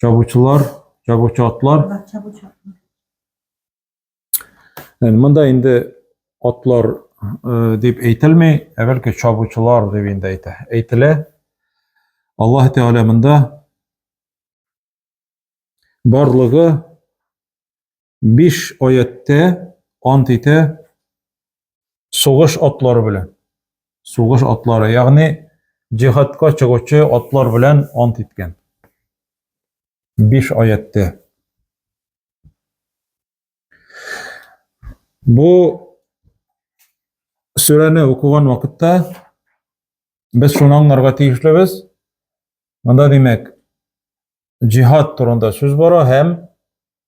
чабучылар, чабучы атлар. Ән монда инде атлар э, дип әйтелми, ә бәлки чабучылар дип инде әйтә. Әйтелә. Аллаһ Тәгалә монда барлыгы биш аятьтә ант итә сугыш атлары белән. Сугыш атлары, ягъни җихадка чыгучы атлар белән ант иткән. Биш аятьтә. Бу сүрәне укыган вакытта без шуны аңларга тиешлебез. Монда димәк, җихад турында сүз бара һәм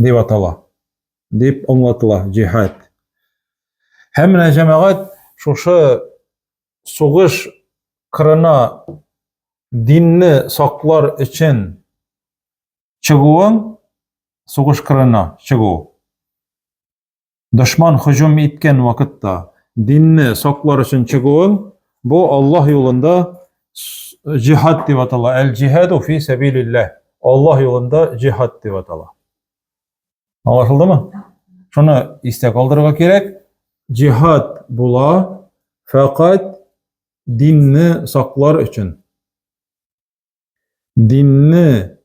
дип атала, дип аңлатыла җиһад. Һәм менә җәмәгать шушы сугыш кырына динне саклар өчен чыгуын, сугыш кырына чыгу, Дошман һөҗүм иткән вакытта динне саклар өчен чыгуың бу Аллаһ юлында җихад дип атала. Әл-җихаду фи сәбилилләһ. Аллаһ юлында җихад дип атала. Аңлашылдымы? Шуны истә калдырырга кирәк. Җихад була фәкать динне саклар өчен. Динне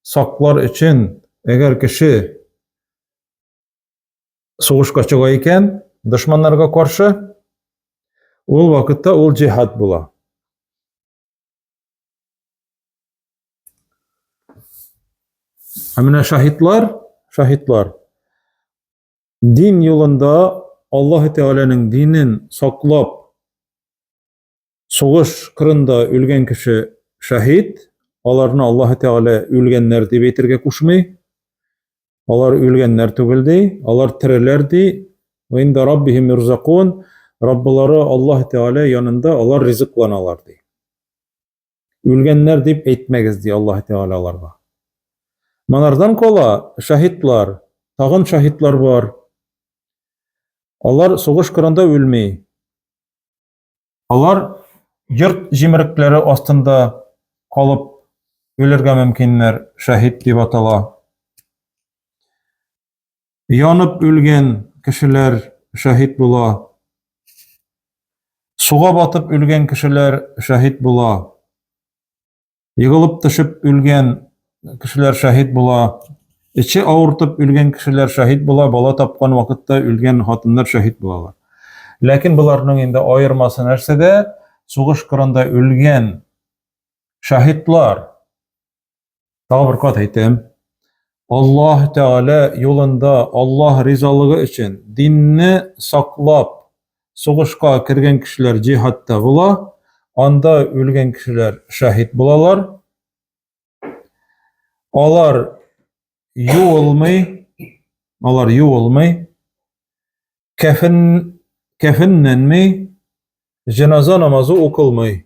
саклар өчен әгәр кеше сугышка чыга икән дошманнарга каршы, ул вакытта ул җиһад була. Ә менә шаһитлар, шаһитлар дин юлында Аллаһ Тәгаләнең динен саклап Сугыш кырында үлгән кеше шәһид, аларны Аллаһ Тәгалә үлгәннәр дип әйтергә кушмый. Алар үлгәннәр түгел ди, алар тереләр ди. Ва инда раббихим юрзакун, Раббылары Аллаһ Тәгалә янында алар ризыкланалар ди. Үлгәннәр дип әйтмәгез ди Аллаһ Тәгалә аларга. Монардан кала шәһидлар, тагын шәһидлар бар. Алар сугыш кырында үлми. Алар йорт җимерекләре астында калып үлергә мөмкиннәр, шәһид дип атала. Янып үлгән кешеләр шәһид була. Суга батып үлгән кешеләр шәһид була. Егылып төшеп үлгән кешеләр шәһид була, эче авыртып үлгән кешеләр шәһид була, бала тапкан вакытта үлгән хатыннар шәһид булалар. Ләкин боларның инде аермасы нәрсәдә? Сугыш кырында үлгән шәһидлар. Тагы бер кат әйтәм. Аллаһ Тәгалә юлында, Аллаһ ризалыгы өчен динне саклап, Сугышка кергән кешеләр җиһадта була, анда үлгән кешеләр шәһид булалар. Алар юылмый, алар юылмый, кәфен, кәфеннәнмей, җеназа намазы укылмый.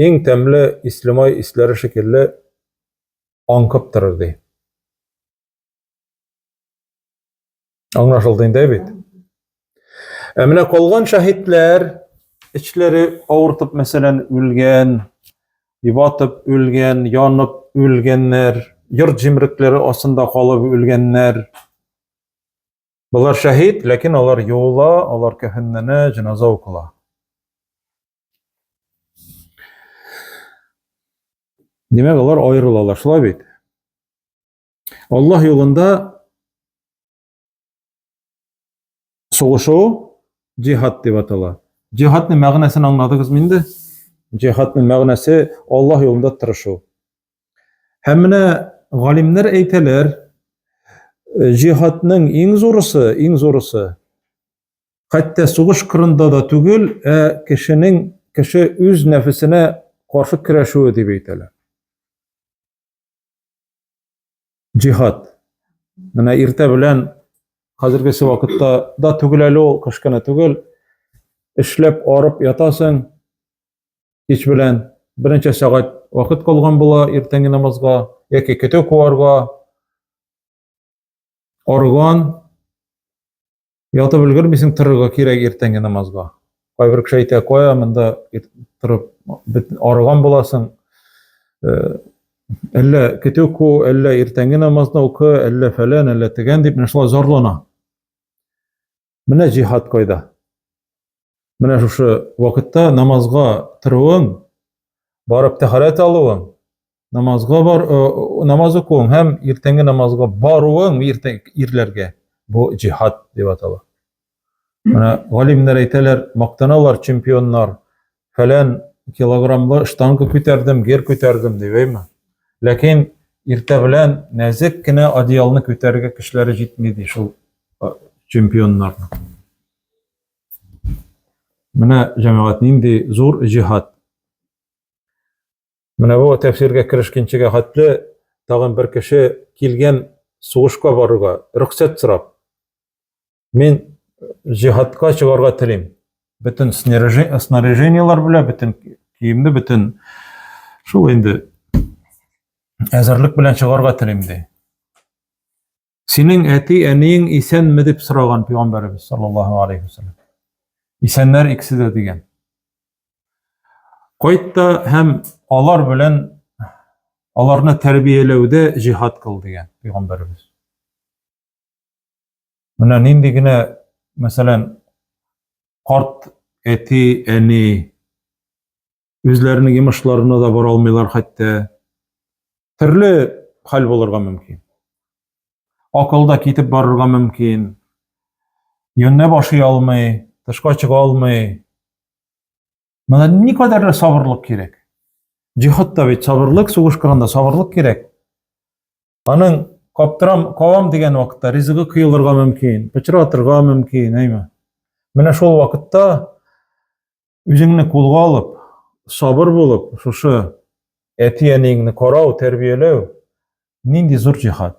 иң тәмле ислемай исләре шикелле аңкып торыр, ди. Аңлашылды инде бит. Ә менә калган шаһитләр эчләре авыртып, мәсәлән, үлгән, ибатып үлгән, янып үлгәннәр, йорт җимрекләре астында калып үлгәннәр. Болар шәһид, ләкин алар юыла, алар кәфенләнә, җеназа укыла. Димәк, алар аерылалар, шулай бит. Аллаһ юлында сугышу җихад дип атала. Җихадның мәгънәсен аңладыгызмы инде? Җихадның мәгънәсе Аллаһ юлында тырышу. Һәм менә галимнәр әйтәләр, җихадның иң зурысы, иң зурысы хәтта сугыш кырында да түгел, ә кешенең кеше үз нәфесенә каршы көрәшүе дип әйтәләр. Җихад. Менә иртә белән хәзергесе вакытта да түгел әле ул, кышкына түгел. Эшләп арып ятасың кич белән. Беренче сәгать вакыт калган була иртәнге намазга яки көтү куарга. Арган, ятып өлгермисең, торырга кирәк иртәнге намазга. Кайбер кеше әйтә, кая монда торып арган буласың. Э, әллә көтү ку, әллә иртәнге намазны укы, әллә фәлән, әллә тегән дип, менә шулай зарлана. Менә җиһад кайда. Менә шушы вакытта намазга торуың, барып тәхәрәт алуың, намазга бар, э, намаз укуың һәм иртәнге намазга баруың иртән ирләргә бу җиһад дип атала. Менә галимнәр әйтәләр, мактаналар чемпионнар, фәлән килограммлы штанга күтәрдем, гер күтәрдем дип, әйме? Ләкин иртә белән нәзек кенә одеялны күтәрергә көчләре җитми ди шул чемпионнарның. Менә җәмәгать нинди зур җиһад. Менә бу тәфсиргә керешкенчегә хәтле тагын бер кеше килгән сугышка барырга рөхсәт сорап. Мин җиһадка чыгарга телим. Бөтен снаряжениелар белән, бөтен киемне, бөтен шул инде әзерлек белән чыгарга телим ди. Синең әти, әниең исәнме дип сораган пәйгамбәребез саллаллаһу алейхи вассалам. Исәннәр икесе дә дигән. Кайтта һәм алар белән аларны тәрбияләүдә җиһад кыл дигән пәйгамбәребез. Менә нинди генә, мәсәлән, карт әти, әни үзләренең йомышларына да бара алмыйлар хәтта. Төрле хәл булырга мөмкин. Акылда китеп барырга мөмкин. Юнне башы алмый, тышка чыга алмый. Менә ни кадәр сабырлык кирәк. Җихадта бит сабырлык, сугыш кырында сабырлык кирәк. Аның каптырам, кавам дигән вакытта ризыгы кыелырга мөмкин, пычратырга мөмкин, әйме. Менә шул вакытта үзеңне кулга алып, сабыр булып, шушы әти-әниеңне карау, тәрбияләү нинди зур җихад.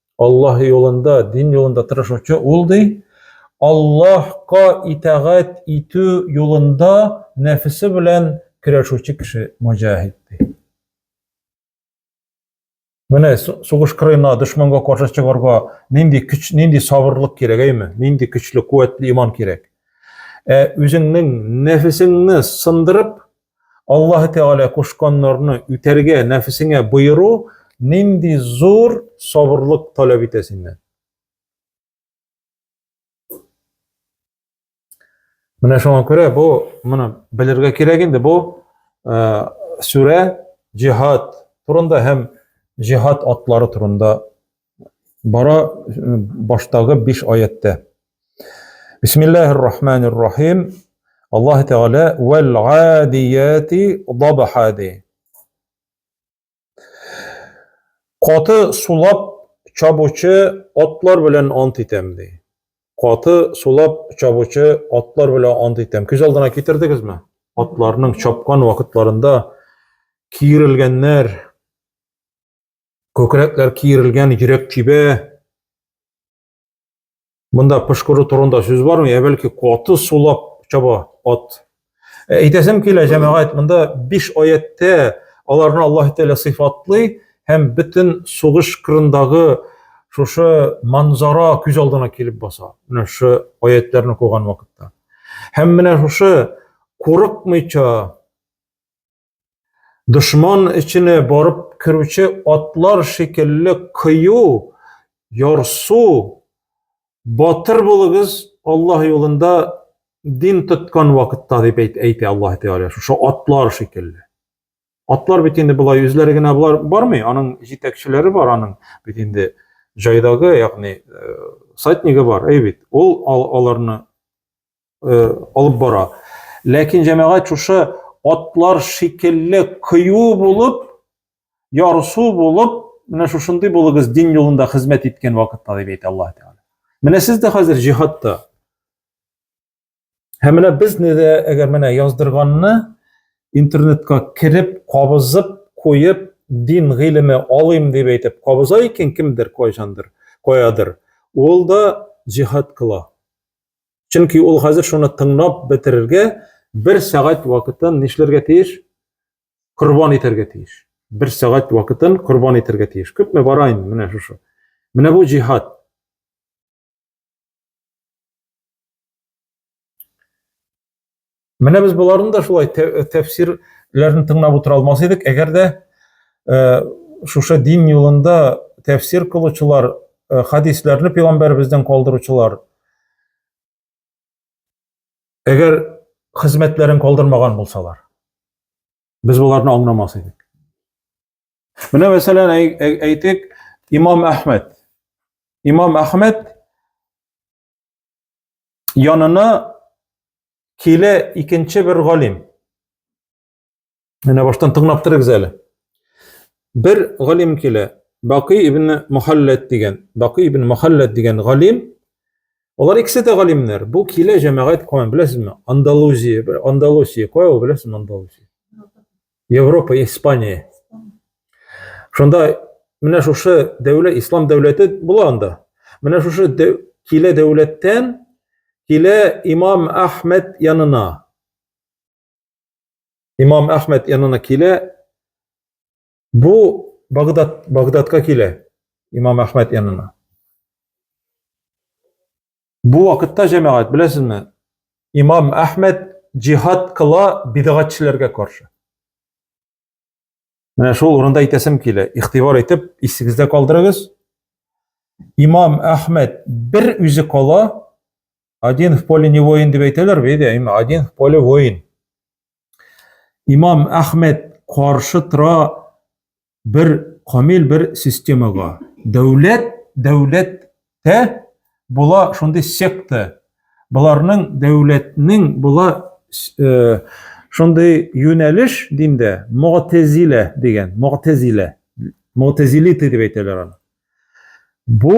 Аллаһ юлында, дин юлында тырышучы ул, ди, Аллаһка итагать итү юлында нәфесе белән көрәшүче кеше мөҗәһид, ди. Менә сугыш кырына дошманга каршы чыгарга нинди көч, нинди сабырлык кирәк, әйме? Нинди көчле, куәтле иман кирәк. Ә үзеңнең нәфесеңне сындырып, Аллаһы Тәгалә кушканнарны үтәргә нәфесеңә боеру нинди зур сабырлык таләп итә синнән. Менә шуңа күрә бу моны белергә кирәк инде бу э, сүрә җиһад турында һәм җиһад атлары турында Бара баштагы биш аяттә. Бисмиллахир рахманир рахим. Аллаһ Тәгалә вәл адияти дабха ди. Каты сулап чабучы атлар белән ант итәм ди. Каты сулап чабучы атлар белән ант итәм. Күз алдына китердегезме? Атларның чапкан вакытларында киерелгәннәр, Күкрәкләр киерелгән, йөрәк тибә. Монда пошкыру турында сүз бармы? Я бәлки каты сулап чаба ат. Ә әйтәсем килә, җәмәгать, монда 5 аятьтә аларны Аллаһ Тәгалә сыйфатлый һәм бөтен сугыш кырындагы шушы манзара күз алдына килеп баса. Менә шушы аятьләрне куган вакытта. Һәм менә шушы курыкмыйча Дошман эченә барып керүче атлар шикелле кыю, ярсу, батыр булыгыз Аллаһ юлында дин тоткан вакытта дип әйтә Аллаһ Тәгалә. Шушы атлар шикелле. Атлар бит инде болай үзләре генә болар бармый, аның җитәкчеләре бар аның. Бит инде җайдагы, ягъни, э, сатнигы бар, әй бит. Ул аларны э, алып бара. Ләкин җәмәгать шушы атлар шикелле кыю булып, ярсу булып, менә шушындый булыгыз дин юлында хезмәт иткән вакытта дип әйтә Аллаһ Тәгалә. Менә сез дә хәзер җиһадта. Һәм менә безне дә әгәр менә яздырганны интернетка кереп, кабызып, куеп, дин гыйлеме алыйм дип әйтеп, кабыза икән кемдер, кайчандыр, каядыр. Ул да җиһад кыла. Чөнки ул хәзер шуны тыңлап бетерергә бер сәгать вакытын нишләргә тиеш? Корбан итәргә тиеш. Бер сәгать вакытын корбан итәргә тиеш. Күпме бара инде менә шушы. Менә бу җиһад. Менә без боларны да шулай тәфсирләрен тыңлап утыра алмас идек, әгәр дә э, шушы дин юлында тәфсир кылучылар, э, хадисләрне пәйгамбәребездән калдыручылар әгәр хезмәтләрен калдырмаган булсалар, без боларны аңламас идек. Менә мәсәлән әйтик, имам Әхмәд. Имам Әхмәд янына килә икенче бер галим. Менә баштан тыңлап торыгыз әле. Бер галим килә, Бакый ибн Мухаллат дигән. Бакый ибн Мухаллат дигән галим. Алар икесе дә галимнәр. Бу килә җәмәгать куан, беләсезме? Андалузия, Андалусия, кая ул, беләсезме Андалусия? Европа, Испания. Шунда менә шушы дәүләт, ислам дәүләте була анда. Менә шушы дәү, килә дәүләттән килә имам Ахмед янына. Имам Ахмед янына килә. Бу Багдад, Багдадка килә имам Ахмед янына. Бу вакытта җәмәгать, беләсезме, имам Әхмәд җихад кыла бидгатьчеләргә каршы. Менә шул урында әйтәсем килә, игътибар итеп, исегездә калдырыгыз. Имам Әхмәд бер үзе кала, один в поле не воин дип әйтәләр бит, один в поле воин. имам әхмәд каршы тора бер камил бер системага дәүләт дәүләттә була шундый секта боларның дәүләтнең була э, шундый юнәлеш дим дә мөгтәзилә дигән мөгтәзилә мөгтәзилиты дип әйтәләр аны бу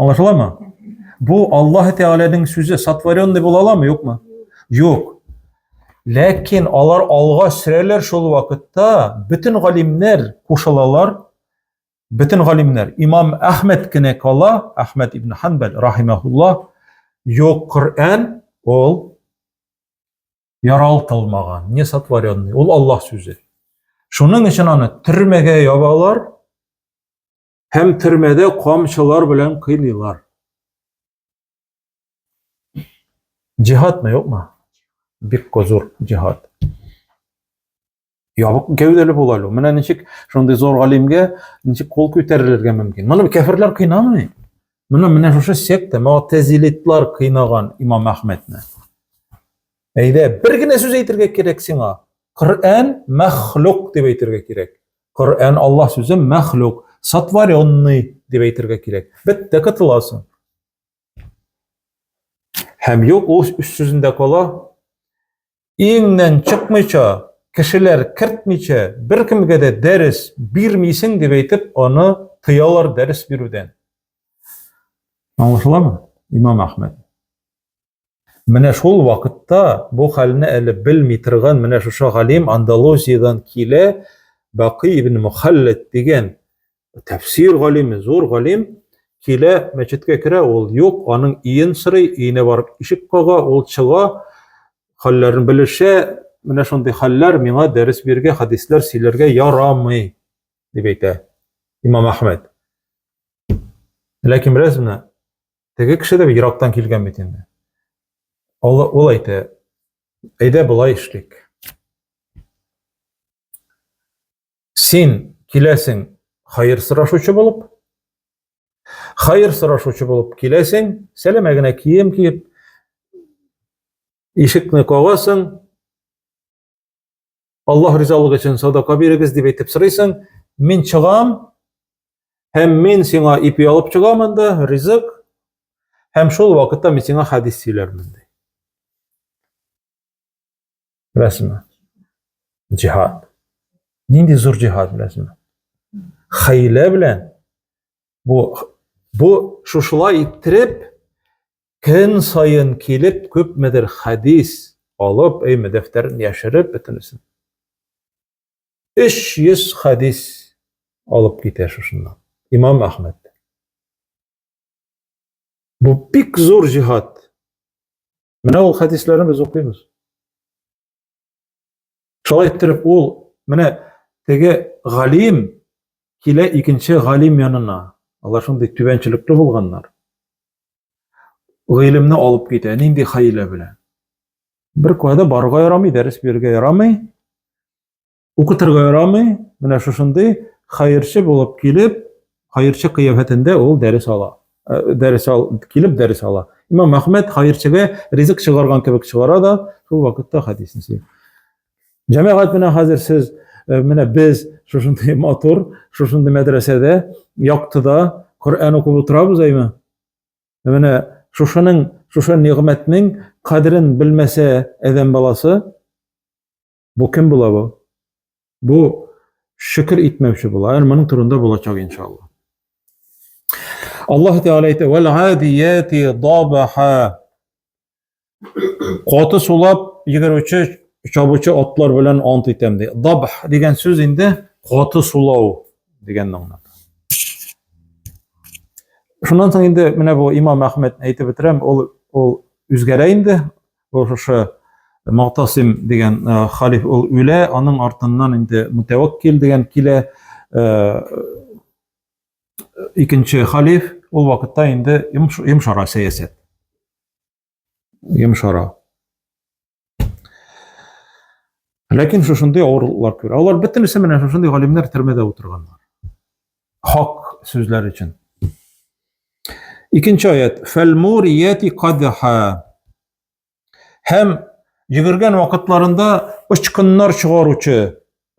Аңлашыламы? Бу Аллаһ Тәгаләнең сүзе сотворенный була аламы, юкмы? Юк. Ләкин алар алга сөрәләр шул вакытта бөтен галимнәр кушылалар. Бөтен галимнәр. Имам Әхмәд кенә кала, Әхмәд ибн Ханбәл рахимаһулла, юк Коръән ул яралтылмаган, не сотворенный, ул Аллаһ сүзе. Шуның өчен аны төрмәгә ябалар, һәм төрмәдә камчылар белән кыйныйлар. Җиһадмы, юкмы? Бик козур җиһад. Ябык гәүдәле була әле. Менә ничек шундый зур галимгә ничек кул күтәрелергә мөмкин? Моны кәферләр кыйнамый. Менә менә шушы секта, мөгтәзилитлар кыйнаган Имам Әхмәдне. Әйдә, бер генә сүз әйтергә кирәк сиңа. Коръән мәхлук дип әйтергә кирәк. Коръән Аллаһ сүзе мәхлук, сотворенный дип әйтергә кирәк. Бетте котыласың. Һәм юк, ул үз сүзендә кала. Иңнән чыкмыйча, кешеләр кертмичә, беркемгә дә дәрес бирмисең дип әйтеп, аны тыялар дәрес бирүдән. Аңлашыламы, имам Әхмәд? Менә шул вакытта бу хәлне әле белми торган менә шушы галим Андалузиядән килә, Бакый ибн Мухаллад дигән тәфсир галиме, зур галим, килә, мәчеткә керә, ул юк, аның иен сорый, иенә барып ишек кага, ул чыга, хәлләрен белешә, менә шундый хәлләр миңа дәрес бирергә, хәдисләр сөйләргә ярамый, дип әйтә Имам Ахмед. Ләкин беләсезме, Теге кеше дә ерактан килгән бит инде. Ул, ул әйтә, әйдә болай эшлик. Син киләсең хайыр сорашучы булып, хайыр сорашучы булып киләсең, сәләмә генә кием киеп, ишекне кагасың, Аллаһ ризалыгы өчен садака бирегез дип әйтеп сорыйсың. Мин чыгам һәм мин сиңа ипи алып чыгам анда, ризык. Һәм шул вакытта мин сиңа хадис сөйләрмен ди. Беләсеңме? Җихад. Нинди зур җихад беләсеңме? Хәйлә белән бу бу шушылай иттереп Көн саен килеп, күпмедер хәдис алып, әйме, дәфтәрен яшереп бөтенесен. 300 хәдис алып китә шушыннан. Имам Ахмед. Бу бик зур җиһад. Менә ул хәдисләрне без укыйбыз. Шулай иттереп ул менә теге галим килә икенче галим янына. Алар шундый түбәнчелекле булганнар. Гыйлемне алып китә, нинди хәйлә белән. Бер кайда барырга ярамый, дәрес бирергә ярамый. Укытырга ярамый, менә шушындый хәерче булып килеп, хәерче кыяфәтендә ул дәрес ала. Э, дәрес ал, килеп дәрес ала. Имам Әхмәд хәерчегә ризык чыгарган кебек чыгара да, шул вакытта хәдисне сөйли. Җәмәгать менә хәзер сез, э, менә без шушындый матур, шушындый мәдрәсәдә, яктыда Коръән укып утырабыз, әйме? Менә шушының, шушы нигъмәтнең кадерен белмәсә әдәм баласы, Бу кем була бу? Бу шөкер итмәүче була. Әр моның турында булачак иншалла. Аллаһ Тәгалә әйтә: "Вәл адияти дабаха". Каты сулап йөгерүче чабучы атлар белән ант итәм ди. Дабх дигән сүз инде каты сулау дигән мәгънә. Шуннан соң инде менә бу Имам Әхмәд әйтеп бетерәм, ул ул үзгәрә инде. Ошо Малтасим дигән халиф ул үлә, аның артыннан инде Мутәвәккил дигән килә. Икенче халиф ул вакытта инде йомшара сәясәт. Йомшара. Ләкин шушындый авырлыклар күрә. Алар бөтенесе менә шушындый галимнәр төрмәдә утырганнар. Хак сүзләр өчен. Икенче аят. Фәлмурияти кадха. Һәм йөгергән вакытларында очкыннар чыгаручы,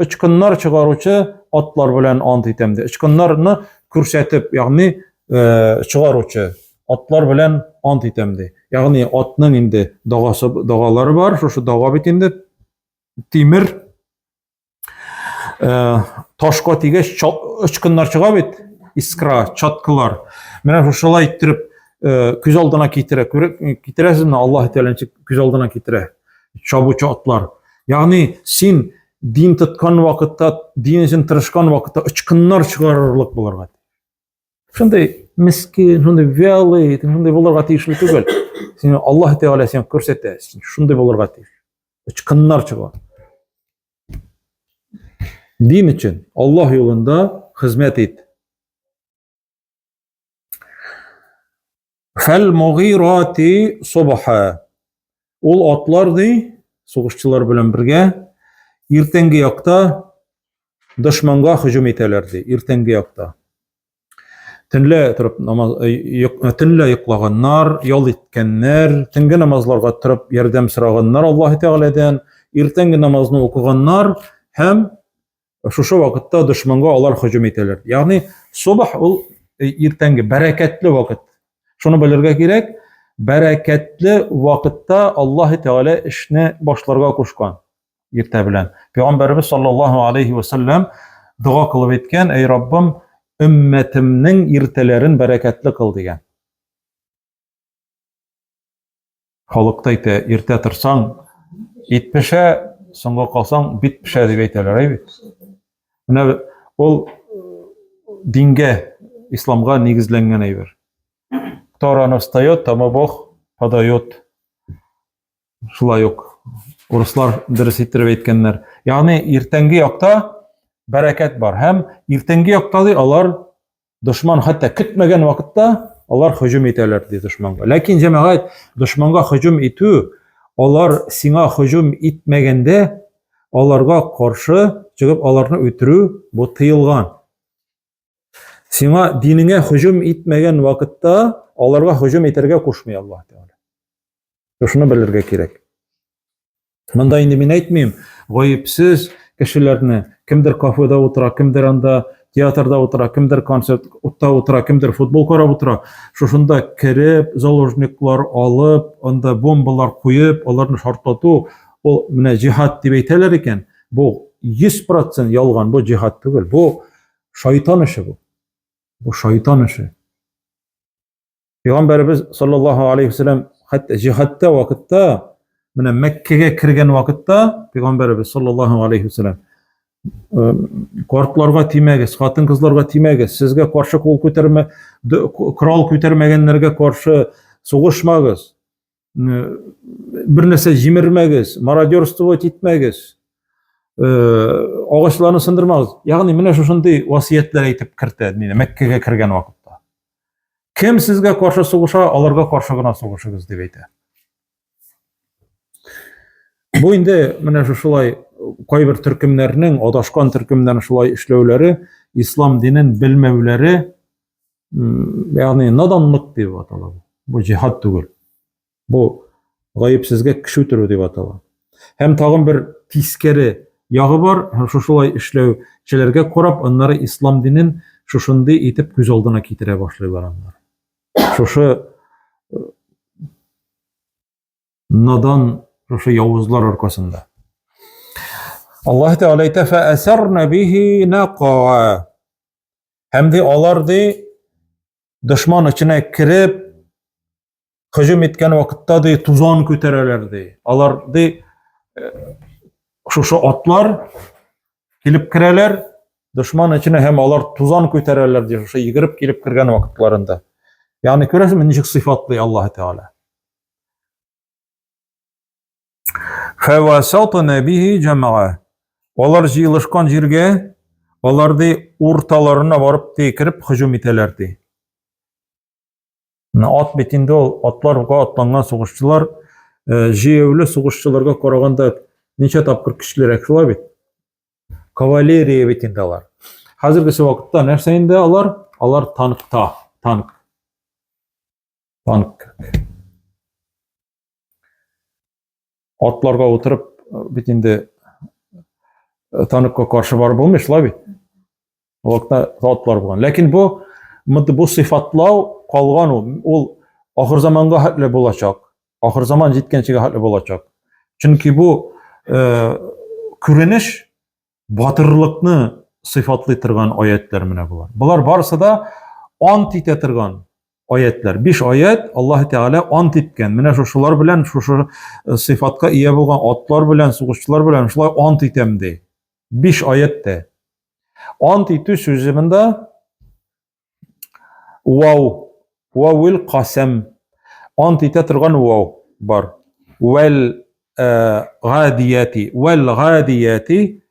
очкыннар чыгаручы атлар белән ант итәм ди. Очкыннарны күрсәтеп, ягъни э, чыгаручы атлар белән ант итәм ди. Ягъни атның инде дагасы дагалары бар, шушы дага бит инде тимер Э, ташка тигәч очкыннар чыга бит искра чаткылар менә шушылай иттереп э, күз алдына китерә китерәсезме аллаһ тәгалә ничек күз алдына китерә чабучы атлар ягъни син дин тоткан вакытта дин өчен тырышкан вакытта очкыннар чыгарырлык булырга шундый мескин шундый вялый шундый булырга тиешле түгел сине аллаһ тәгалә сиңа күрсәтә син шундый булырга тиеш очкыннар чыга дин өчен аллаһ юлында хезмәт ит Хәл мугирати собаха. Ул атлар ди, сугышчылар белән бергә, иртәнге якта дошманга һөҗүм итәләр ди, иртәнге якта. Төнлә торып намаз э, э, төнлә йоклаганнар, ял иткәннәр, төнге намазларга торып ярдәм сораганнар Аллаһ Тәгаләдән, иртәнге намазны укыганнар һәм Шушы вакытта дошманга алар һөҗүм итәләр. Ягъни субах ул э, иртәнге бәрәкәтле вакыт. Шуны белергә кирәк, бәрәкәтле вакытта Аллаһ Тәгалә эшне башларга кушкан иртә белән. Пәйгамбәрбез саллаллаһу алейхи ва саллям дога кылып әйткән, "Эй Раббым, өммәтемнең иртәләрен бәрәкәтле кыл" дигән. Халыкта әйтә, иртә торсаң, ит пешә, соңга калсаң, бит пешә дип әйтәләр, әй бит. Менә ул дингә, исламга нигезләнгән әйбер. Кто рано встает, тому Бог подает. Шулай ук урыслар дөрес иттереп әйткәннәр. Ягъни иртәнге якта бәрәкәт бар һәм иртәнге якта ди алар дошман хәтта көтмәгән вакытта алар һөҗүм итәләр ди дошманга. Ләкин җәмәгать дошманга һөҗүм итү, алар сиңа һөҗүм итмәгәндә аларга каршы чыгып аларны үтерү бу тыелган. Сиңа динеңә һөҗүм итмәгән вакытта аларга һөҗүм итәргә кушмый Аллаһ Тәгалә. Шуны белергә кирәк. Монда инде мин әйтмим, гаепсез кешеләрне, кемдер кафеда утыра, кемдер анда театрда утыра, кемдер концерт утта утыра, кемдер футбол карап утыра. Шушында кереп, заложниклар алып, анда бомбалар куеп, аларны шартлату, ул менә җихад дип әйтәләр икән, бу 100% ялган, бу җихад түгел, бу шайтан эше бу. Бу шайтан эше. Пәйгамбәребез саллаллаһу алейхи вәсәлләм хәтта җихадта вакытта, менә Мәккәгә кергән вакытта Пәйгамбәребез саллаллаһу алейхи вәсәлләм картларга тимәгез, хатын-кызларга тимәгез, сезгә каршы кул күтәрмә, корал күтәрмәгәннәргә каршы сугышмагыз. бер нәрсә җимермәгез, мародерствовать итмәгез, э, агачларны сындырмагыз. Ягъни менә шушындый васыятлар әйтеп кертә дине Мәккәгә кергән вакытта. Кем сезгә каршы сугыша, аларга каршы гына сугышыгыз дип әйтә. Бу инде менә шушылай кайбер төркемнәрнең, адашкан төркемнәрнең шулай эшләүләре, ислам динен белмәүләре ягъни наданлык дип атала бу. Бу җиһад түгел. Бу гаепсезгә кеше үтерү дип атала. Һәм тагын бер тискәре ягы бар, һәм шушылай эшләүчеләргә карап, аннары ислам динен шушындый итеп күз алдына китерә башлыйлар аннар. Шушы э, надан шушы явызлар аркасында. Аллаһ Тәгалә әйтә: "Фәәсәрна бихи нақа" Һәм ди алар ди дошман эченә кереп һөҗүм иткән вакытта ди тузан күтәрәләр ди. Алар ди э, шушы атлар килеп керәләр дошман эченә һәм алар тузан күтәрәләр ди шушы йөгереп килеп кергән вакытларында. Ягъни күрәсезме ничек сыйфатлый Аллаһ Тәгалә. Фәвасатына бихи җәмәгә. Алар җыелышкан җиргә, алар ди урталарына барып ди кереп һөҗүм итәләр ди. Ат бит инде ул атларга атланган сугышчылар, э, җәяүле сугышчыларга караганда ничә тапкыр көчлерәк шулай бит. Кавалерия бит инде алар. Хәзергесе вакытта нәрсә инде алар? Алар танкта, танк. Банк. Атларга утырып, бит инде э, таныкка каршы барып булмый, шулай бит. Вакытта атлар булган. Ләкин бу мынды бу сыйфатлау калган ул. Ул ахыр заманга хәтле булачак. Ахыр заман җиткәнчегә хәтле булачак. Чөнки бу э, күренеш Батырлыкны сыйфатлый торган аятлар менә болар. Болар барысы да ант итә торган аятлар. Биш аят Аллаһ Тәгалә ант иткән. Менә шушылар белән, шушы э, сыйфатка ия булган атлар белән, сугышчылар белән шулай ант итәм ди. Биш аятта. Ант итү сүзе монда Вау. Вауил касәм. Ант итә торган вау бар. Вәл э, гадияти. Вәл гадияти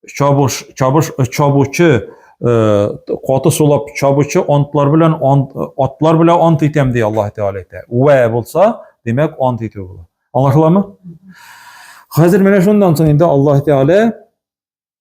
чабыш, чабыш, э, чабучы, э, каты сулап чабучы антлар белән ант, атлар белән ант итәм ди Аллаһ Тәгалә әйтә. Вә булса, димәк, ант итү була. Аңлашыламы? Хәзер менә шуннан соң инде Аллаһ Тәгалә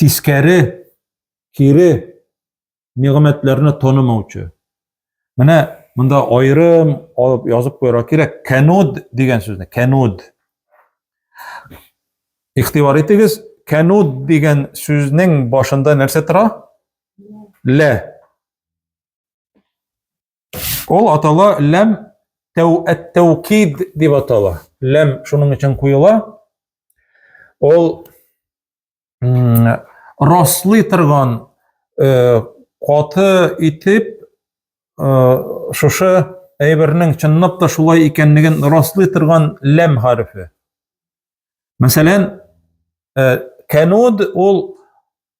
тискәре, кире нигъмәтләрне танымаучы. Менә монда аерым алып язып куярга кирәк. Кануд дигән сүзне, кануд. Ихтибар итегез, кануд дигән сүзнең башында нәрсә тора? Лә. Ул атала ләм тәүкид дип атала. Ләм шуның өчен куела. Ул раслый торган э, каты итеп э, шушы әйбернең чынлап та шулай икәнлеген раслый торган ләм хәрефе. Мәсәлән, э, кануд ул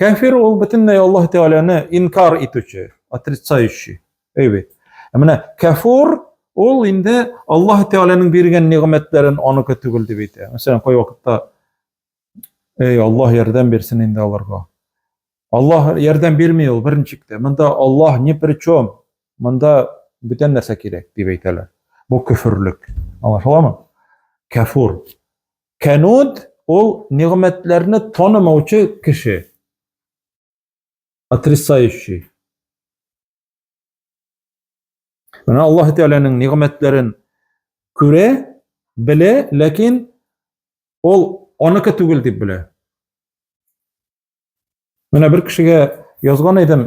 Кәфир ул бөтенләй Аллаһ Тәгаләне инкар итүче, отрицающий. Әйбәт. Ә менә кәфур ул инде Аллаһ Тәгаләнең биргән нигъмәтләрен аныкы түгел дип әйтә. Мәсәлән, кай вакытта Эй, Аллаһ ярдәм бирсен инде аларга. Аллаһ ярдәм бирми ул беренче китә. Монда Аллаһ ни при чем? Монда бүтән нәрсә кирәк дип әйтәләр. Бу көферлек. Аңлашыламы? Кәфур. Кәнуд ул нигъмәтләрне танымаучы кеше. Отрицающий. Менә Аллаһ Тәгаләнең нигъмәтләрен күрә, белә, ләкин ул аныкы түгел дип белә. Менә бер кешегә язган идем,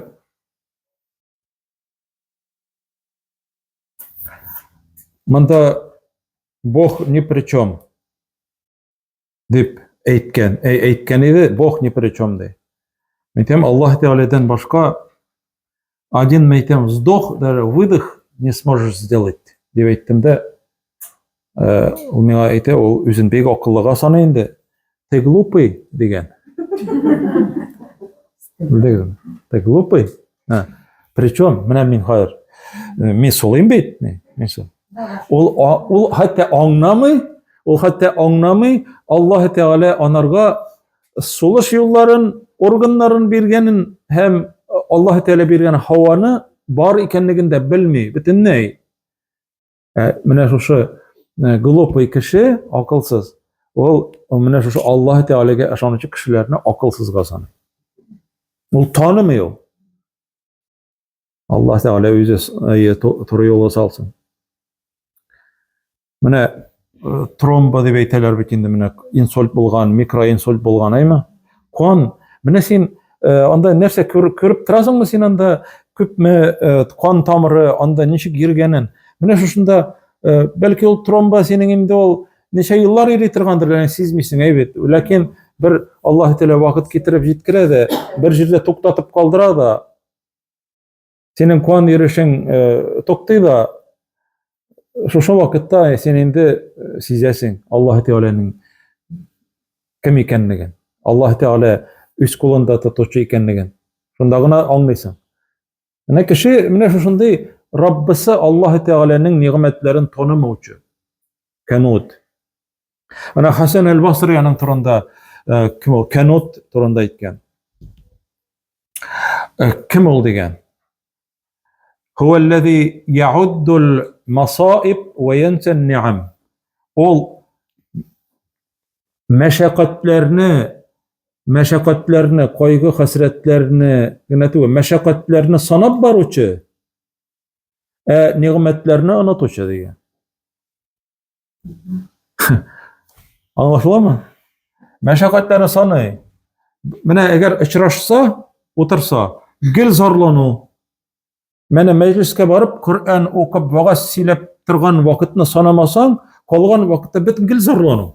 Монда Бог ни при чем дип әйткән, әй, әйткән иде, Бог ни при чем ди. Мәйтәм, Аллаһ Тәгаләдән башка один мәйтәм вздох, даже выдох не сможешь сделать, дип әйттем дә, Э, ул миңа әйтә, ул үзен бик акыллыга саный инде. Ты глупый дигән. Белдегезме? Ты глупый. Причем, менә мин хәзер э, мин сулыйм бит, мин сул. Ул ул хәтта аңламый, ул хәтта аңламый, Аллаһ Тәгалә анарга сулыш юлларын, органнарын биргәнен һәм э, Аллаһ Тәгалә биргән һаваны бар икәнлеген дә белми, бөтенләй. Ә менә шушы э, глупый кеше, акылсыз, ул менә шушы Аллаһ Тәгаләгә ышанучы кешеләрне акылсызга саный. Ул танымый ул. Аллаһ Тәгалә үзе э, туры юлга салсын. Менә э, тромба дип әйтәләр бит инде менә инсульт булган, микроинсульт булган, әйме? Кан, менә син Э, анда нәрсә күреп, күреп торасыңмы син анда күпме э, кан тамыры анда ничек йөргәнен менә шушында э, бәлки ул тромба синең инде ул ничә еллар йөри торгандыр ләкин сизмисең әйбәт ләкин бер аллаһы тәала вакыт китереп җиткерә дә бер җирдә туктатып калдыра да синең куан йөришең э, туктый да шушы вакытта син инде э, сизәсең аллаһы тәгаләнең кем икәнлеген аллаһы тәгалә үз кулында тотучы икәнлеген шунда гына аңлыйсың менә кеше менә шушындый раббысы аллаһы тәгаләнең нигъмәтләрен танымаучы канут Ана Хасан әл-Басри аның турында э, кем ул? Канут турында әйткән. Э, кем ул дигән? Һу аллази яуддул масаиб ва янса ниам. Ул мәшәкатьләрне мәшәкатьләрне, кайгы хәсрәтләрне генә түгел, мәшәкатьләрне санап баручы, ә нигъмәтләрне онытучы дигән. Аңлашыламы? Мәшәкатьләрне саный. Менә әгәр очрашса, утырса, гел зарлану. Менә мәҗлескә барып, Коръән укып, вагаз сөйләп торган вакытны санамасаң, калган вакытта бөтен гел зарлану.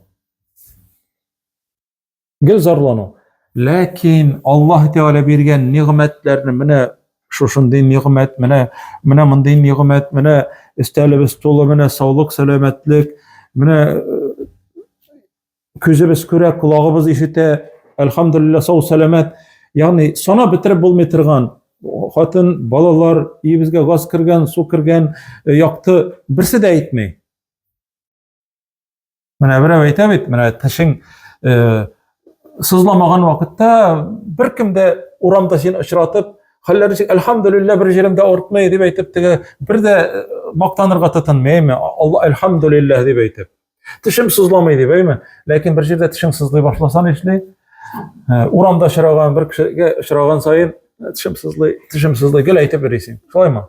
Гел зарлану. Ләкин Аллаһ Тәгалә биргән нигъмәтләрне менә шушындый нигъмәт, менә менә мондый нигъмәт, менә өстәлебез тулы, менә саулык, сәламәтлек, менә э, күзебез күрә, колагыбыз ишетә, әлхамдулилла, сау сәламәт. Ягъни санап бетереп булмый торган хатын, балалар, өебезгә газ кергән, су кергән, э, якты, берсе дә әйтми. Менә берәү әйтә бит, менә тешең э, сызламаган вакытта беркем дә урамда син очратып, хәлләре ничек, әлхәмдүлиллә, бер җирем дә ортмый дип әйтеп, теге бер дә э, мактанырга тотынмыймы? Алла әлхәмдүлиллә дип әйтеп. Тешем сызламый дип, әйме? Ләкин бер җирдә тешең сызлый башласа нишли? Э, урамда очраган бер кешегә очраган саен тешем сызлый, тешем сызлый гел әйтеп йөрисең. Шулаймы?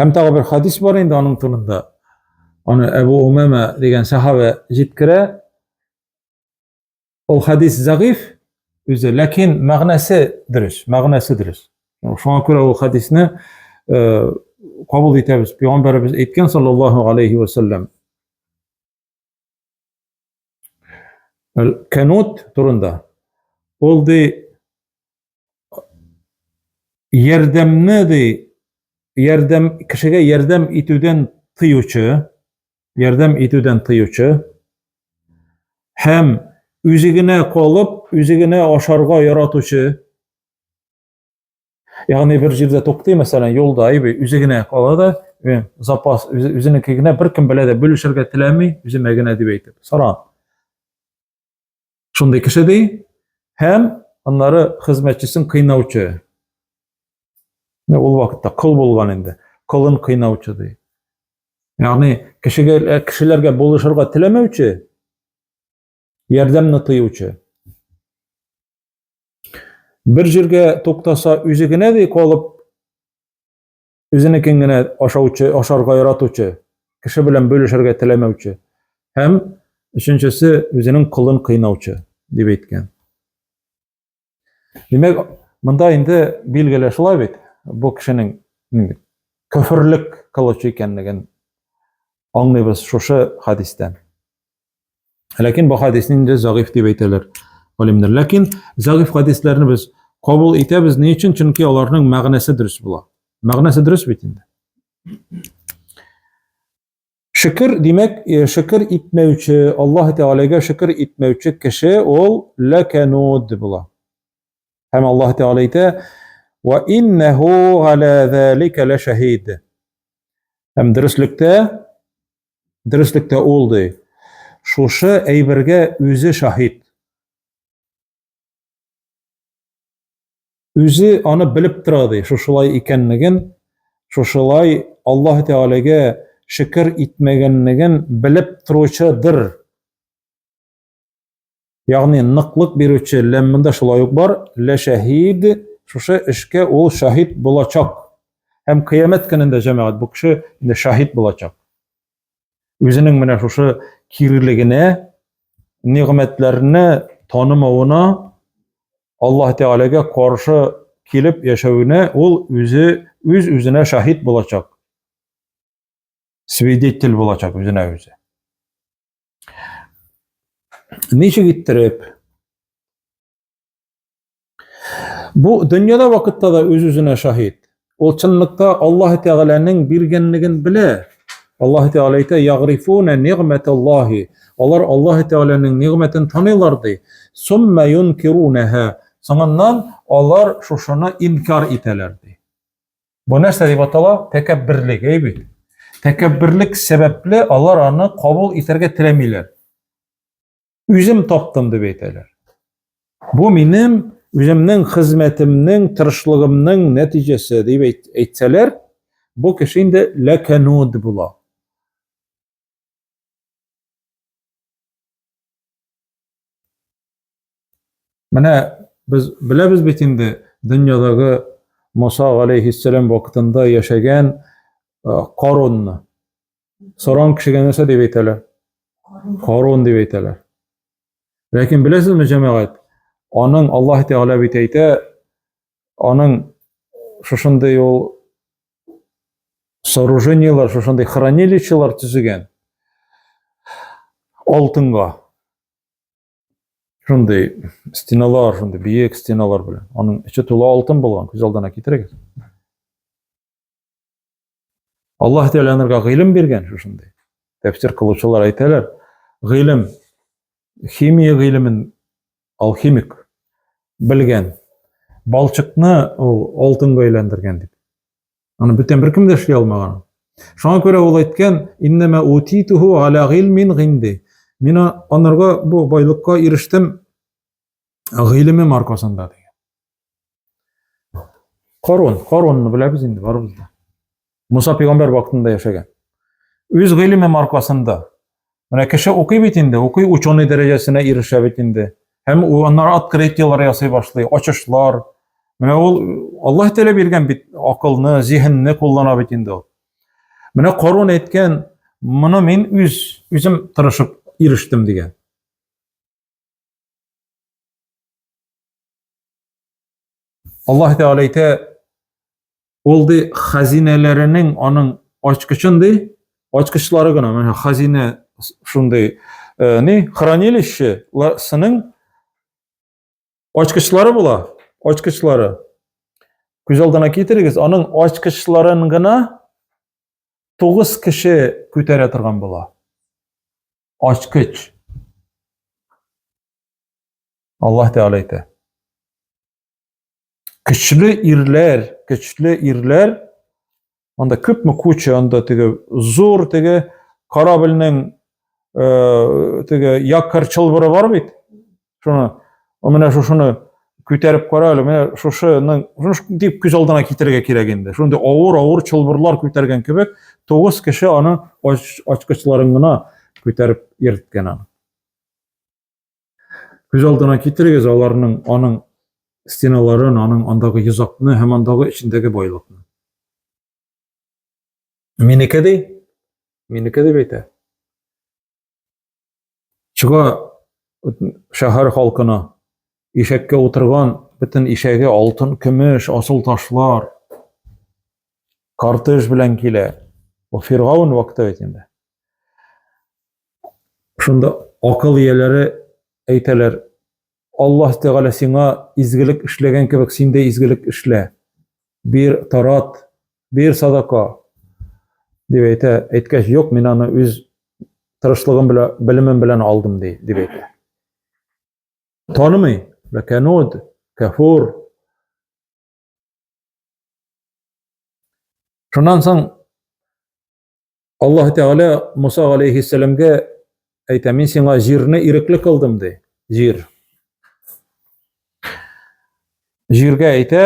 Һәм тагы бер хадис бар инде аның турында. Аны Әбу Умама дигән сахабә җиткерә. Ул хадис зәгыйф үзе, ләкин мәгънәсе дөрес, мәгънәсе дөрес. Шуңа күрә ул хадисне э, кабул итәбез. Пәйгамбәребез әйткән саллаллаһу алейхи ва саллям. Кәнот турында ул ди ярдәмне ди ярдәм кешегә ярдәм итүдән тыючы ярдәм итүдән тыючы һәм үзе генә калып, үзе генә ашарга яратучы Ягъни бер җирдә туктый, мәсәлән, юлда әйби, үзе генә кала да, запас үзенеке генә беркем белә дә бүлешергә теләми, үземә генә дип әйтеп. Саран. Шундый кеше ди, һәм аннары хезмәтчесен кыйнаучы. Ул вакытта кол булган инде. Колын кыйнаучы ди. Ягъни кешегә кешеләргә булышырга теләмәүче Ярдәмне тыючы. Бер җиргә туктаса, үзе генә дә калып, үзенекен генә ашаучы, ашарга яратучы, кеше белән бөлешергә теләмәүче. Һәм өченчесе үзенең колын кыйнаучы дип әйткән. Димәк, монда инде билгеле шулай бит, бу кешенең көферлек кылучы икәнлеген аңлыйбыз шушы хадистән. Ләкин бу хадисне инде зәгыйфь дип әйтәләр галимнәр. Ләкин зәгыйфь хадисләрне без кабул итәбез ни өчен? Чөнки аларның мәгънәсе дөрес була. Мәгънәсе дөрес бит инде. Шөкер, димәк, э, шөкер итмәүче, Аллаһ Тәгаләгә шөкер итмәүче кеше ул ләкәнуд була. Һәм Аллаһ Тәгалә әйтә: "Ва иннаху гала залика лашахид". Һәм дөреслектә дөреслектә ул ди. Шушы әйбергә үзе шаһит. Үзе аны белеп тора ди, шушылай икәнлеген, шушылай Аллаһ Тәгаләгә шөкер итмәгәнлеген белеп торучыдыр. Ягъни ныклык бирүче ләммендә шулай ук бар, лә шәһид, шушы эшкә ул шаһид булачак. Һәм кыямәт көнендә җәмәгать бу кеше инде шаһид булачак. Үзенең менә шушы кирилегенә, нигъмәтләрне танымавына, Аллаһ Тәгаләгә каршы килеп яшәвенә ул үзе үз үзенә шаһит булачак. Свидетель булачак үзенә үзе. Ничек иттереп Бу дөньяда вакытта да үз-үзенә шаһит. Ул чынлыкта Аллаһ Тәгаләнең биргәнлеген белә. Аллаһ Тәгалә әйтә: "Ягрифуна нигматаллаһи". Алар Аллаһ Тәгаләнең нигмәтен таныйлар ди. Сумма юнкирунаһа. Соңыннан алар шушыны инкар итәләр ди. Бу нәрсә дип атала? Тәкәбберлек, әй бит. Тәкәбберлек сәбәпле алар аны кабул итәргә теләмиләр. үзем таптым дип әйтәләр. Бу минем үземнең хезмәтемнең, тырышлыгымның нәтиҗәсе дип әйтсәләр, бу кеше инде ләкәнуд була. Менә без беләбез бит инде дөньядагы Муса алейхиссәлам вакытында яшәгән Корунны. Саран кешегә нәрсә дип әйтәләр? Харун дип әйтәләр. Ләкин беләсезме, җәмәгать, аның Аллаһ Тәгалә бит әйтә, аның шушындый ул сооружениелар, шушындый хранилищелар төзегән алтынга. шундый стеналар шундый биек стеналар белән аның эче тулы алтын булган күз алдына китерегез аллаһ тәғәлә аларга гыйлем биргән шушындай тәфсир кылучылар әйтәләр гыйлем химия гыйлемен алхимик белгән балчыкны ул алтынга әйләндергән дип Аны бүтән беркем дә эшли алмаган. Шуңа күрә ул әйткән, иннәмә утитуху аля гилмин гинди. Мин анарга бу байлыкка ирештем гыйлемем аркасында дигән. Корон, коронны беләбез инде барыбыз да. Муса пәйгамбәр вакытында яшәгән. Үз гыйлемем аркасында Менә кеше укый бит инде, укый ученый дәрәҗәсенә ирешә бит инде. Һәм аннары открытиялар ясый башлый, ачышлар. Менә ул Аллаһ Тәгалә биргән бит акылны, зиһенне куллана бит инде ул. Менә Корон әйткән, моны мин үз үзем тырышып ирештем дигән. Аллаһ Тәгалә әйтә, ул ди хазинәләренең аның ачкычын ди, ачкычлары гына, менә хазинә шундый, э, ни, хранилище сының ачкычлары була, ачкычлары. Күз алдына китерегез, аның ачкычларын гына 9 кеше күтәрә торган була. ачкыч. Аллаһ Тәгалә әйтә. Көчле ирләр, көчле ирләр, анда күпме куча анда теге зур теге корабльнең э, теге якорь чылбыры бар бит. шуны менә шушыны күтәреп кара әле менә шушыны дип күз алдына китерергә кирәк инде шундый авыр авыр чылбырлар күтәргән кебек тугыз кеше аны ачкычларын гына күтәреп йөрткән аны күз алдына китерегез аларның аның стеналарын аның андагы йозакны һәм андагы эчендәге байлыкны минеке ди минеке дип әйтә Чыга шәһәр халкына ишәккә утырган бөтен ишәге алтын, көмеш, асыл ташлар, кортеж белән килә. Бу Фиргаун вакыты бит инде. Шунда акыл ияләре әйтәләр, Аллаһ Тәгалә сиңа изгелек эшләгән кебек син дә изгелек эшлә. Бир, тарат, бир садака. Дип әйтә, әйткәч, юк, мин аны үз тырышлыгым белән, белемем белән алдым ди, дип әйтә. Танымый, ләкәнуд, кәфур. Шуннан соң Аллаһ Тәгалә Муса алейхиссәламгә әйтә, мин сиңа җирне ирекле кылдым, ди. Җир. Җиргә әйтә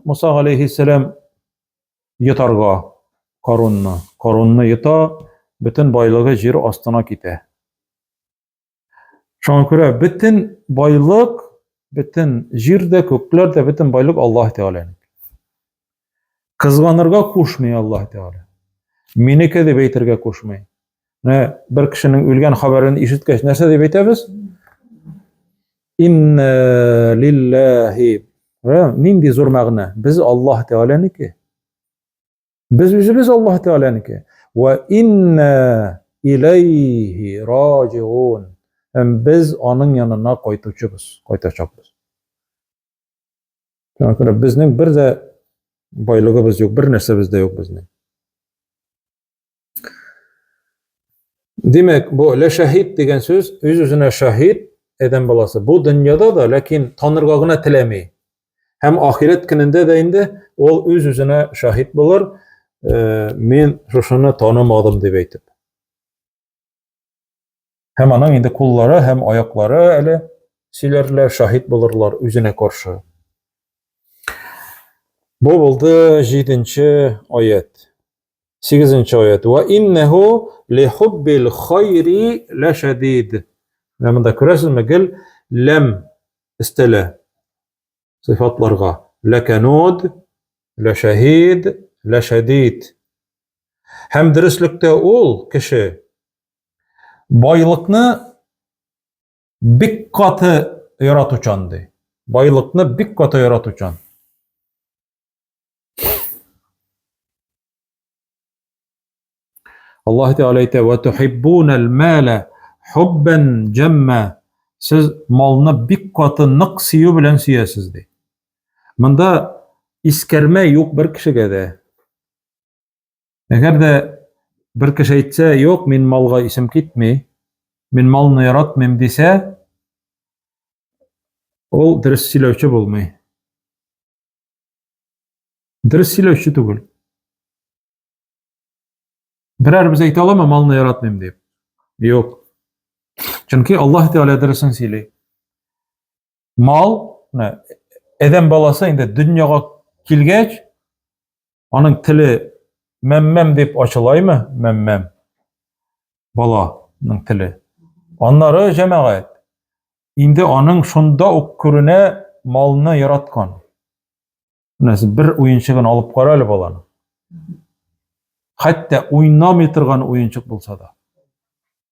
Муса алейхиссәлам йотарга Карунны. Карунны йота, бөтен байлыгы җир астына китә. Шуңа күрә бөтен байлык, бөтен җир дә, күкләр дә, бөтен байлык Аллаһ Тәгаләнеке. Кызганырга кушмый Аллаһ Тәгалә. Минеке дип әйтергә кушмый. Менә бер кешенең үлгән хәбәрен ишеткәч, нәрсә дип әйтәбез? Инна лиллаһи. Нинди зур мәгънә? Без Аллаһ Тәгаләнеке. Без үзебез Аллаһ Тәгаләнеке. Ва инна иләйһи раҗиун. Һәм без аның янына кайтучыбыз, кайтачакбыз. Шуңа күрә безнең бер дә байлыгыбыз юк, бер нәрсәбез дә юк безнең. Димәк, бу лә шәһид дигән сүз үз үзенә шәһид әдәм баласы. Бу дөньяда да, ләкин танырга гына теләми. Һәм ахирет көнендә дә инде ул үз үзенә шәһид булыр, э, мин шушыны танымадым дип әйтеп. Һәм аның инде куллары һәм аяклары әле сөйләрләр, шаһит булырлар үзенә каршы. Бу булды 7-нче аят. 8-нче аят. Ва иннаху ли хуббил хайри ла шадид. Менә монда күрәсезме, гел ләм истәлә. сыйфатларга. Ләкәнуд, ләшәһид, ләшәдид. Һәм дөреслектә ул кеше байлыкны бик каты яратучан ди. Байлыкны бик каты яратучан. Аллаһ Тәгалә әйтә: "Ва тухиббунал мала хуббан джамма". Сез малны бик каты нык сөю белән сөясез ди. Монда искәрмә юк бер кешегә дә. Әгәр дә бер кеше әйтсә, "Юк, мин малга исем китми, мин малны яратмыйм" дисә, ул дөрес сөйләүче булмый. Дөрес сөйләүче түгел. Берәр без әйтә аламы, малны яратмыйм дип? Юк. Чөнки Аллаһ Тәгалә дөресен сөйли. Мал, әдәм баласы инде дөньяга килгәч, аның теле мәммәм дип ачылаймы? Мәммәм. Баланың теле. Аннары җәмәгать. Инде аның шунда ук күренә малны яраткан. Менә сез бер уенчыгын алып кара әле баланы. Хәтта уйнамый торган уенчык булса да.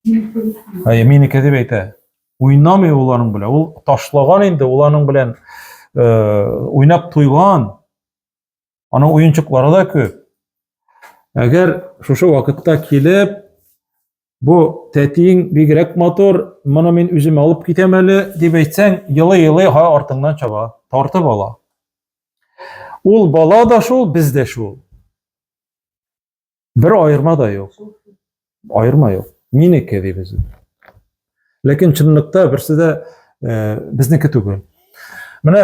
Әй, мине кәдеп әйтә. Уйнамый ул аның белән. Ул ташлаган инде, ул аның белән э, уйнап туйган. Аның уенчыклары да күп. Әгәр шушы вакытта килеп, Бу тәтиең бигрәк матур, моны мин үзем алып китәм әле, дип әйтсәң, елый-елый ха артыңнан чаба, тартып ала. Ул бала да шул, без дә шул. Бер аерма да юк. Аерма юк. Минеке ди без. Ләкин чынлыкта берсе дә э, безнеке түгел. Менә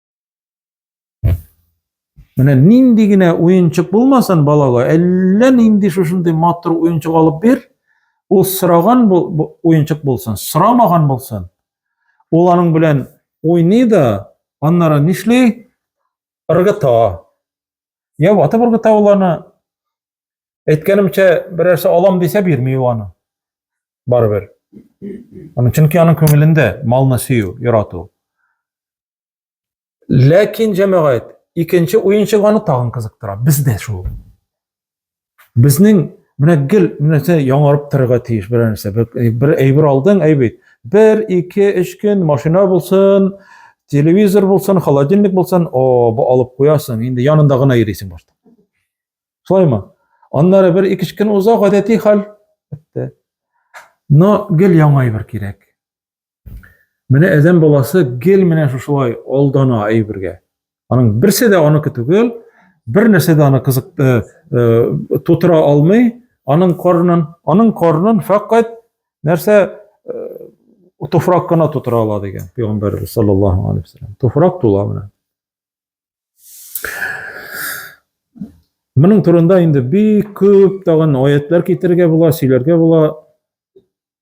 Менә нинди генә уенчык булмасын балага, әллә нинди шушындый матур уенчык алып бир, ул сораган уенчык булсын, сорамаган булсын. Ул аның белән уйный да, аннары нишли? Ыргыта. Я ватып ыргыта ул аны. Әйткәнемчә, берәрсе алам дисә бирми ул аны. Барыбер. Аны чөнки аның күңелендә малны сөю, ярату. Ләкин, җәмәгать, икенче уенчык аны тагын кызыктыра. Без дә шул. Безнең менә гел нәрсә яңарып торырга тиеш бер нәрсә. Бер, бер әйбер алдың, әйбит. Бер, ике, өч көн машина булсын, телевизор булсын, холодильник булсын, о, бу алып куясың, инде янында гына йөрисең башта. Шулаймы? Аннары бер ике көн уза, гадәти хәл. Бетте. Но гел яңа әйбер кирәк. Менә әдәм баласы гел менә шушылай алдана әйбергә. Аның берсе дә аныкы түгел, бер нәрсә дә аны кызык э, э, тутыра алмый, аның карнын, аның карнын фәкать нәрсә э, туфрак кына тутыра ала дигән пәйгамбәрбез саллаллаһу алейхи вассалам. Туфрак тула менә. Моның турында инде бик күп тагын аятлар китерергә була, сөйләргә була.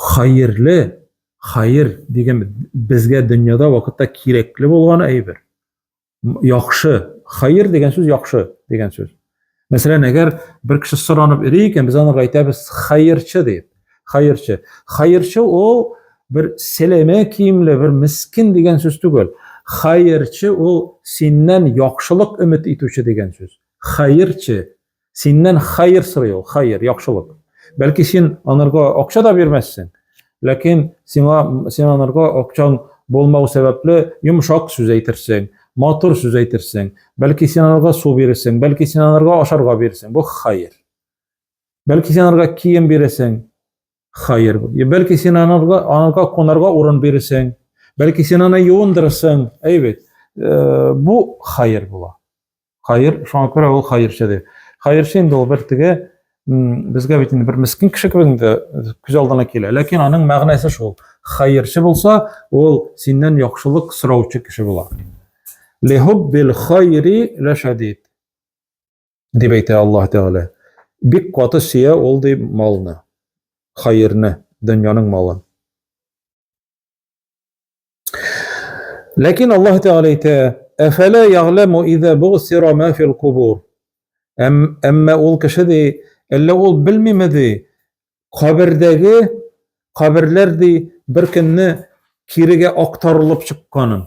Хәерле, хәер дигән безгә дөньяда вакытта кирәкле булган әйбер. Яхшы, хәер дигән сүз яхшы дигән сүз. Мәсәлән, әгәр бер кеше соранып йөри икән, без аны әйтәбез хәерче дип. Хәерче. Хәерче ул бер сәләмә киемле, бер мискин дигән сүз түгел. Хәерче ул синнән яхшылык өмет итүче дигән сүз. Хәерче, Синнән хәер сорый ул, хәер, яхшылык. Бәлки син анарга акча да бирмәссең, ләкин сиңа син анарга акчаң булмау сәбәпле йомшак сүз әйтерсең, матур сүз әйтерсең, бәлки син анарга су бирерсең, бәлки син анарга ашарга бирерсең. Бу хәер. Бәлки син анарга кием бирерсең. Хәер. Бәлки син анарга анарга кунарга урын бирерсең. Бәлки син аны юындырырсың. Әйбәт. Э, бу хәер була. Хәер, шуңа күрә ул хәерче ди. Хәерче инде ул бер теге безгә бит инде бер мескин кеше кебек инде күз алдына килә. Ләкин аның мәгънәсе шул. Хәерче булса, ул синнән яхшылык сораучы кеше була. Лихуббил хайри лашадид. Дип әйтә Аллаһ Тәгалә. Бик каты сөя ул ди малны, хәерне, дөньяның малын. Ләкин Аллаһ Тәгалә әйтә: "Әфәлә ягъламу иза бугсира ма фил кубур?" Әмма ул кеше ди, әллә ул белмиме ди, кабердәге каберләр ди бер көнне кирегә актарылып чыкканын.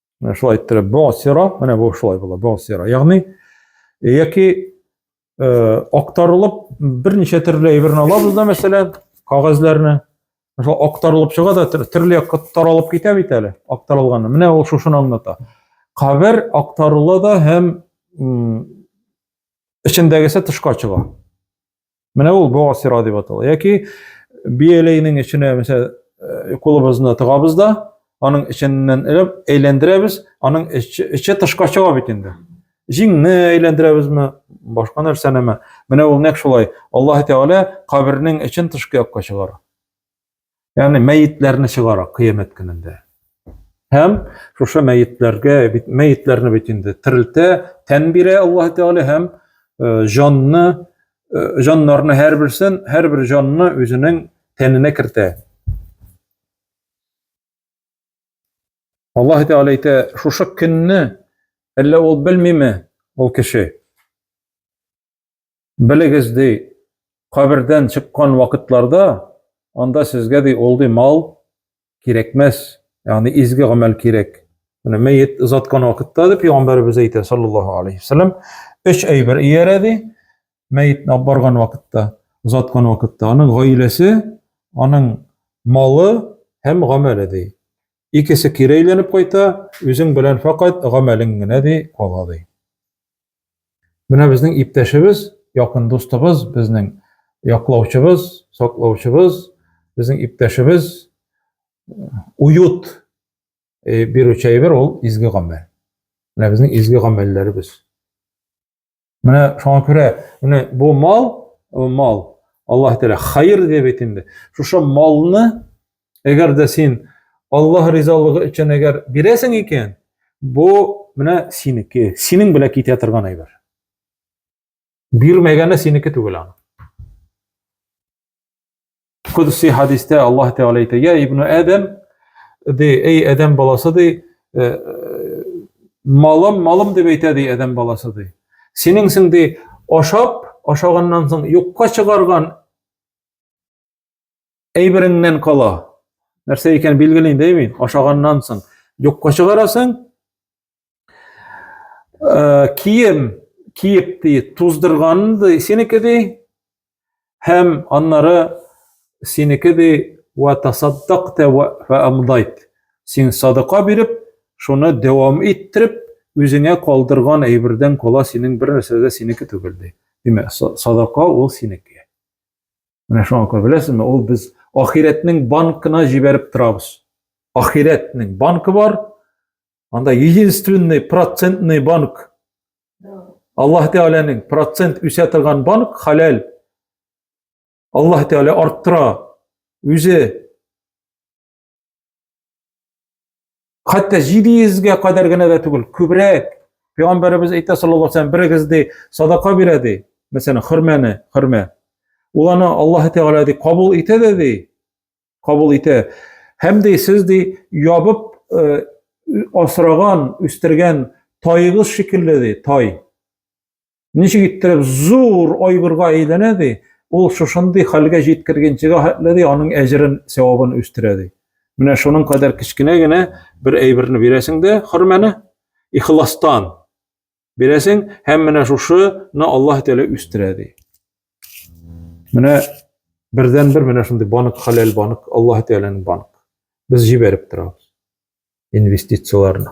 Менә шулай иттереп босера, менә бу шулай була, босера. Ягъни яки э, актарылып берничә төрле әйберне алабыз да, мәсәлән, кагазьләрне. Шул актарылып чыга да төрле якка таралып китә бит әле, актарылганы. Менә ул шушыны аңлата. Кабер актарыла да һәм эчендәгесе тышка чыга. Менә ул богаз сира дип атала. Яки бияләйнең эченә, мәсәлән, э, кулыбызны тыгабыз да, аның эченнән элеп әйләндерәбез, аның эче, эче тышка чыга бит инде. Җиңне әйләндерәбезме, башка нәрсәнеме? Менә ул нәкъ шулай. Аллаһ Тәгалә кабернең эчен тышкы якка чыгара. Ягъни мәетләрне чыгара кыямәт көнендә. Һәм шушы мәетләргә бит мәетләрне бит инде терелтә, тән бирә Аллаһ Тәгалә һәм э, җанны э, җаннарны һәрберсен, һәрбер җанны үзенең тәненә кертә. Аллаһ Тәгалә әйтә, шушы көнне әллә ул белмиме ул кеше? Белегез, ди, кабердән чыккан вакытларда анда сезгә ди ул ди мал кирәкмәс, ягъни изге гамәл кирәк. Менә мәет озаткан вакытта дип пәйгамбәребез әйтә саллаллаһу алейхи вассалам, өч әйбер иярә ди, мәетне алып барган вакытта, озаткан вакытта, аның гаиләсе, аның малы һәм гамәле ди. Икесе кире әйләнеп кайта, үзең белән фәкать гамәлең генә ди кала ди. Менә безнең иптәшебез, якын дустыбыз, безнең яклаучыбыз, саклаучыбыз, безнең иптәшебез уют э, бирүче әйбер ул изге гамәл. Менә безнең изге гамәлләребез. Менә шуңа күрә менә бу мал, э, мал Аллаһ Тәгалә хәер дип әйтенде. Шушы малны Әгәр дә син Аллаһ ризалыгы өчен әгәр бирәсең икән, бу менә синеке, синең белән китә торган әйбер. Бирмәгәне синеке түгел аны. Кудси хадистә Аллаһ Тәгалә әйтә: "Я ибн Адам, ди, эй Адам баласы ди, э, э, малым, малым дип әйтә ди Адам баласы ди. Синең син ди, ашап, ашаганнан соң юкка чыгарган Әйбереңнән кала. Нәрсә икән билгеле инде бит, ашаганнан соң юкка чыгарасың. Э, кием киеп ди, туздырган ди, синеке ди. Һәм аннары синеке ди, ва тасаддакта ва амдайт. Син садака биреп, шуны дәвам иттереп, үзеңә калдырган әйбердән кала синең бер нәрсә дә синеке түгел ди. Димәк, садака ул синеке. Менә шуңа күрә беләсезме, ул без ахирәтнең банкына җибәреп торабыз. Ахирәтнең банкы бар, анда единственный процентный банк. Аллаһ Тәгаләнең процент үсә торган банк халәл. Аллаһ Тәгалә арттыра, үзе Хәтта 700 ге кадәр генә дә түгел, күбрәк. Пәйгамбәребез әйтә саллаллаһу алейһи берегез ди, садака бирә ди. Мәсәлән, хөрмәне, хөрмә. Ул аны Аллаһ Тәгалә ди кабул итә дә ди. Кабул итә. Һәм ди сез ди ябып э, асраган, үстергән тайыгыз шикелле ди, тай. Ничек иттереп зур айгырга әйләнә ди, ул шушындый хәлгә җиткергәнчегә хәтле ди, аның әҗерен, сәвабын үстерә ди. Менә шуның кадәр кечкенә генә бер әйберне бирәсең дә, хөрмәне ихластан бирәсең һәм менә шушыны Аллаһ Тәгалә үстерә ди. Менә бердән бер менә шундый банк, хәләл банк, Аллаһ Тәгаләнең банк. Без җибәреп торабыз инвестицияләрне.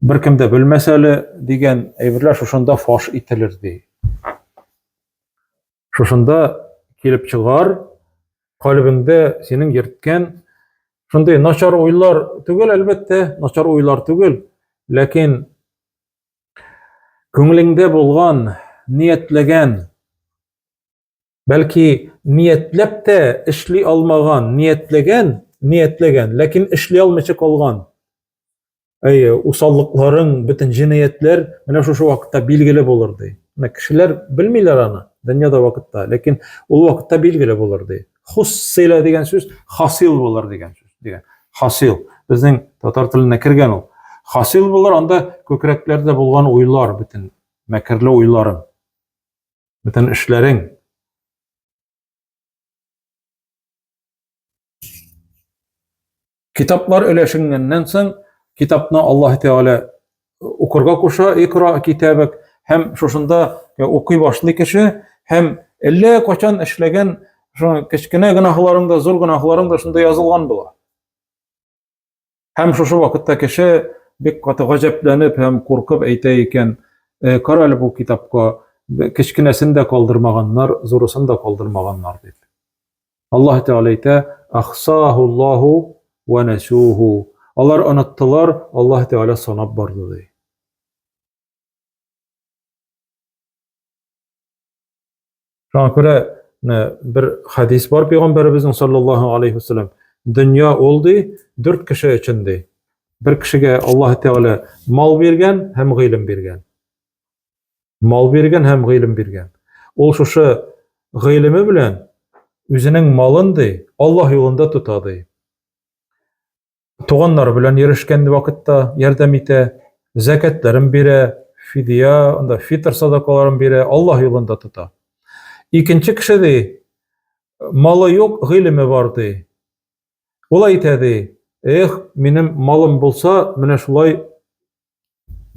беркем дә белмәс әле дигән әйберләр шушында фаш ителер ди. Шушында килеп чыгар, калбеңдә синең йөрткән шундый начар уйлар түгел, әлбәттә, начар уйлар түгел, ләкин күңелеңдә булган, ниятләгән Бәлки ниятләп тә эшли алмаган, ниятләгән, ниятләгән, ләкин эшли алмыйча калган. Әйе, усаллыкларың, бөтен җинаятьләр менә шушы вакытта билгеле булыр ди. Менә кешеләр белмиләр аны дөньяда вакытта, ләкин ул вакытта билгеле булыр ди. Хуссила дигән сүз хасил булыр дигән сүз дигән. Хасил безнең татар теленә кергән ул. Хасил булыр анда күкрәкләрдә булган уйлар бөтен мәкерле уйларын. Бөтен эшләрең. Китаплар өләшенгәннән соң, китапны Аллаһ Тәгалә укырга куша, икра китабек, һәм шушында укый башлый кеше, һәм әллә качан эшләгән шуның кечкенә гөнаһларың да, зур гөнаһларың да шунда язылган була. Һәм шушы вакытта кеше бик каты гаҗәпләнеп һәм куркып әйтә икән, «Э, кара әле бу китапка, кечкенәсен дә калдырмаганнар, зурысын да калдырмаганнар дип. Аллаһ Тәгалә әйтә, «Ахсахуллаху ва насуху». Алар оныттылар, Аллаһ Тәгалә санап барды ди. шуңа күрә бер хәдис бар пәйгамбәребезнең саллаллаһу алейхи вассалам дөнья ул ди дүрт кеше өчен ди бер кешегә аллаһ тәгалә мал биргән һәм гыйлем биргән мал биргән һәм гыйлем биргән ул шушы гыйлеме белән үзенең малын ди аллаһ юлында тота ди туганнары белән йөрешкән вакытта ярдәм итә, зәкәтләрен бирә, фидия, анда фитр садакаларын бирә, Аллаһ юлында тота. Икенче кеше ди, малы юк, гыйлеме бар ди. Ул әйтә ди, эх, минем малым булса, менә шулай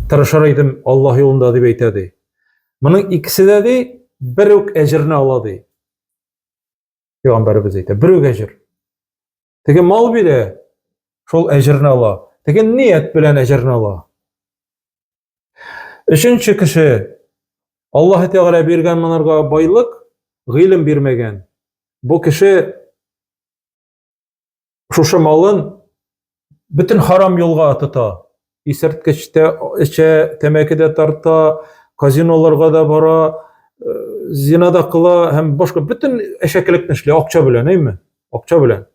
тырышыр идем Аллаһ юлында дип әйтә ди. Моның икесе дә ди, бер үк әҗерне ала ди. Пәйгамбәребез әйтә, бер үк әҗер. Теге мал бирә, шул әҗерне ала. Теге ният белән әҗерне ала. Өченче кеше Аллаһ Тәгалә биргән монарга байлык, гыйлем бирмәгән. Бу кеше шушы малын бөтен харам юлга тота. Исерткеч тә эчә, тәмәке дә тарта, казиноларга да бара, э, зина да кыла һәм башка бөтен әшәкелекне эшли акча белән, әйме? Акча белән.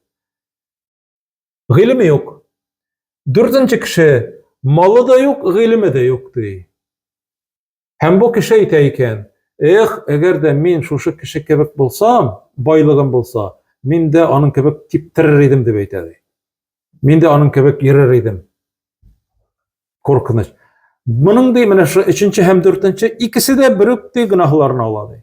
Гыйлеме юк. Дүртенче кеше малы да юк, гыйлеме дә юк ди. Һәм бу кеше әйтә икән, Эх, әгәр дә мин шушы кеше кебек булсам, байлыгым булса, мин дә аның кебек типтерер идем, дип әйтә, ди. Мин дә аның кебек йөрер идем. Куркыныч. Моның ди, менә шушы өченче һәм дүртенче икесе дә бер үк ди гөнаһларын ала, ди.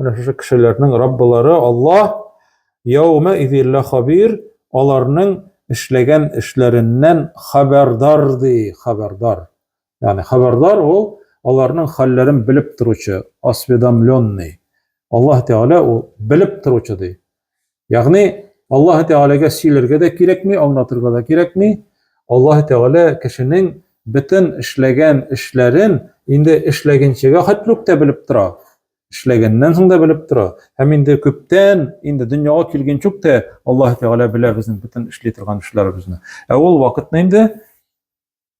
Менә шушы кешеләрнең Раббылары Аллаһ яума изиллә хабир, аларның эшләгән эшләреннән хәбәрдар ди, хәбәрдар. Ягъни хәбәрдар ул аларның хәлләрен белеп торучы, осведомленный. Аллаһ Тәгалә ул белеп торучы ди. Ягъни Аллаһ Тәгаләгә сөйләргә дә кирәкми, аңлатырга да кирәкми. Аллаһ Тәгалә кешенең бөтен эшләгән эшләрен инде эшләгәнчегә хәтле үк тә белеп тора. Эшләгәннән соң да белеп тора. Һәм инде күптән, инде дөньяга килгәнче үк тә Аллаһ Тәгалә белә безнең бөтен эшли торган эшләребезне. Ә ул вакытны инде